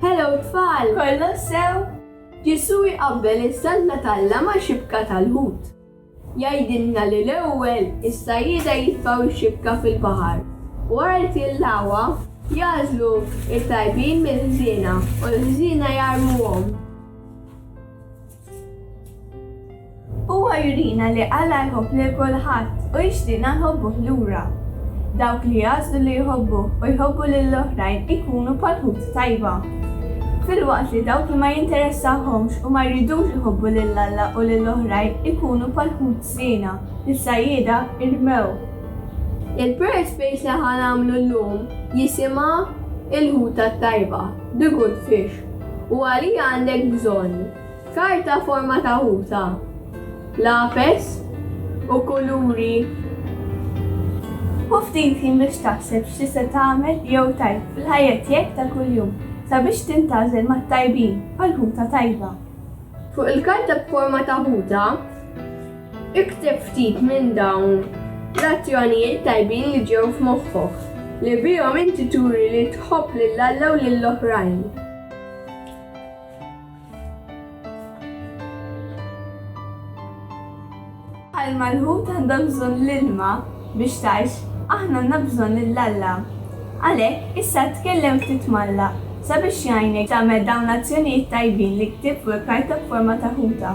Hello tfal! Kollox sew? Ġesù jqabbel iż-żalla t'Alla ma' xibka tal-ħut. Jgħidilna li l-ewwel, is-sajjieda jitfgħu x-xibka fil-baħar u wara li tilgħuha, jagħżlu t-tajbin mill-ħżiena u l-ħżiena jarmuhom. Huwa jurina li Alla jħobb lil kulħadd u jixtieqna nħobbuh lura. Dawk li jagħżlu li jħobbuh u jħobbu lill-oħrajn ikunu bħal ħut tajba. Filwaqt li dawk li ma jinteressahomx u ma jridux iħobbu lil Alla u lil oħrajn ikunu bħal ħut żiena li s-sajjieda irmew. Il-Prayer Space li ħa nagħmlu llum jisimha Il-Ħuta t-Tajba, The Good Fish. U għalija għandek bżonn karta forma ta' ħuta, lapes u kuluri? Ħu ftit ħin biex taħseb x'tista' tagħmel jew tgħid fil-ħajja tiegħek ta' kuljum sabiex tintgħażel mat-tajbin għal ħuta tajba. Fuq il-karta b'forma ta' ħuta, Ikteb ftit minn dawn l-azzjonijiet tajbin li ġew f'moħħok, li bihom inti turi li tħobb lil Alla u lill-oħrajn. Bħalma l-ħut għandha bżonn l-ilma biex tgħix, aħna għandna bżonn lil Alla. Għalhekk, issa tkellem ftit m'Alla sabiex jgħinek tagħmel dawn l-azzjonijiet tajbin li ktibt fuq il-karta b'forma ta' ħuta.